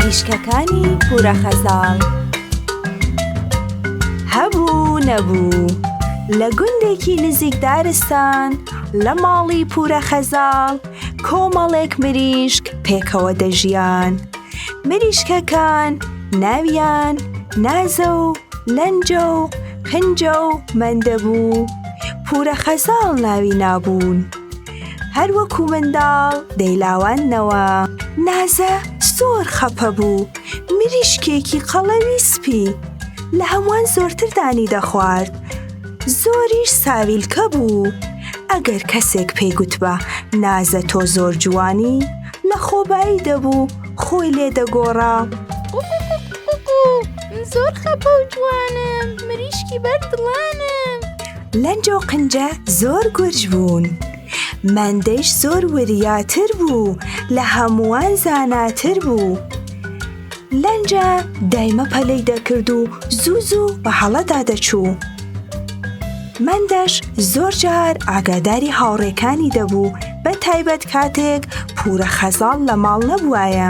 مریشکەکانی پورە خەزاڵ هەبوو نەبوو لە گوندێکی نزیک دارستان لە ماڵی پورە خەزاڵ کۆمەڵێک مریشک پێکەوە دەژیان مریشکەکان ناویان نازە و لەنجە و پنجە و مەندەبوو پورە خەزاڵ ناوی نابوون. هەر وەکوو منداڵ دەیلاواندنەوە. نازە زۆر خەپە بوو، مریشکێکی قەڵەوی سپی لە هەمووان زۆرتر دانی دەخوارد، زۆریش ساویلکە بوو، ئەگەر کەسێک پێی گوتبا نازە تۆ زۆر جوانی، لە خۆبایی دەبوو، خۆی لێ دەگۆڕا. قوقوقوقوقوو، من زۆر خەپە و جوانم، مریشکی بەر دڵانم. لەنجە و قنجە زۆر گورج بوون، مەندەیش زۆر وریاتر بوو، لە هەمووان زاناتر بوو. لەنجە دایمە پەلەی دەکرد و زوو زوو بە هەڵەدا دەچوو. مەندەش زۆر جار ئاگاداری هاوڕێکانی دەبوو، بە تایبەت کاتێک پوورە خەزاڵ لە ماڵ نەبوایە.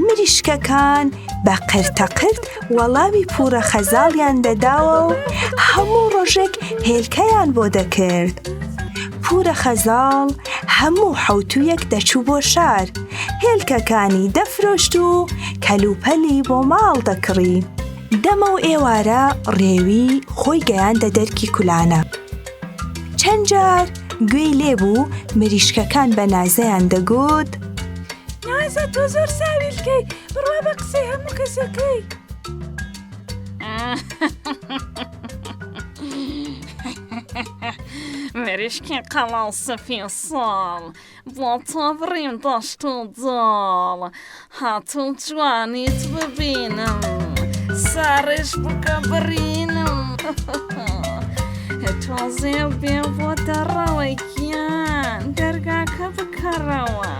مریشکەکان بە قرتەقرت وەڵامی پورە خەزاڵیان دەداوە و هەموو ڕۆژێک هێلکەیان بۆ دەکرد. پورە خەزاڵ هەموو حوتویەک دەچوو بۆ شار، هێلکەکانی دەفرۆشت و کەلوپەلی بۆ ماڵ دەکڕی. دەمە و ئێوارە ڕێوی خۆی گەیاندە دەرکی کولانە. چەند جار گوێی لێبوو مریشکەکان بە نازەیان دەگوت نازە تۆ زۆر ساویلکەی بڕوا بە قسەی هەموو کەسەکەی مریشکی قەڵاڵ سەفی ساڵ بۆ تۆ بڕیم دەشت و دۆڵ هاتوو جوانیت ببینم ساڕێژ بکە بڕینم تۆزێ بێ بۆ دەڕەوە گیان دەرگاکە بکەڕەوە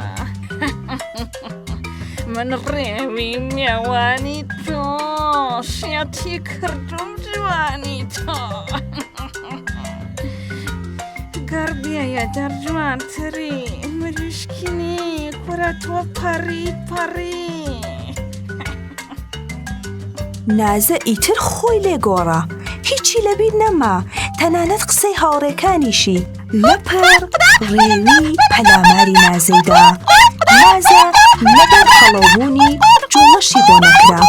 من ڕێوی مێوانی تۆ شێتی کردوم جوانی تۆ. گڕ بێیە دەر جوانتری مریشکینی کورە تۆ پەڕی پەڕی. نازە ئیتر خۆی لێ گۆڕا هیچی لەبیر نەما تەنانەت قسەی هاوڕێکانیشی لەپڕ ڕێوی پەلاماری نازەیدا نازە لەبەر خەڵەوبوونی جوڵەشی بۆ نەکرا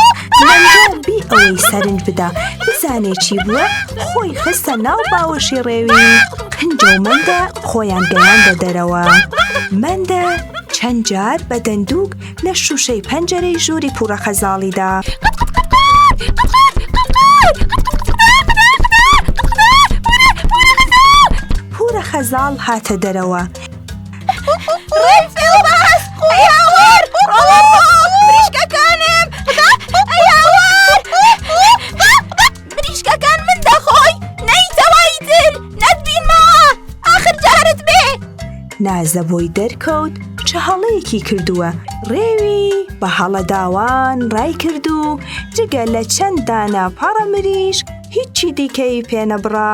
لەنجۆ بی ئەوەی سەرنج بدا بزانێ چی بووە خۆی خستە ناو باوەشی ڕێوی هندە و مەندە خۆیان گەیاندە دەرەوە مەندە چەند جار بە دەندووک لە شوشەی پەنجەرەی ژووری پوڕە خەزاڵیدا پورە خەزاڵ هاتە دەرەوە بریشکەکان من دەخۆی نەیتەوای تر نەتبینمەوە ئاخر جارت بێ نازە بۆی دەرکەوت چ هەڵەیەکی کردووە ڕێوی بە هەڵەداوان ڕای کرد و جگە لە چەند دانە پاڕە مریش هیچی دیکەی پێنەبڕا.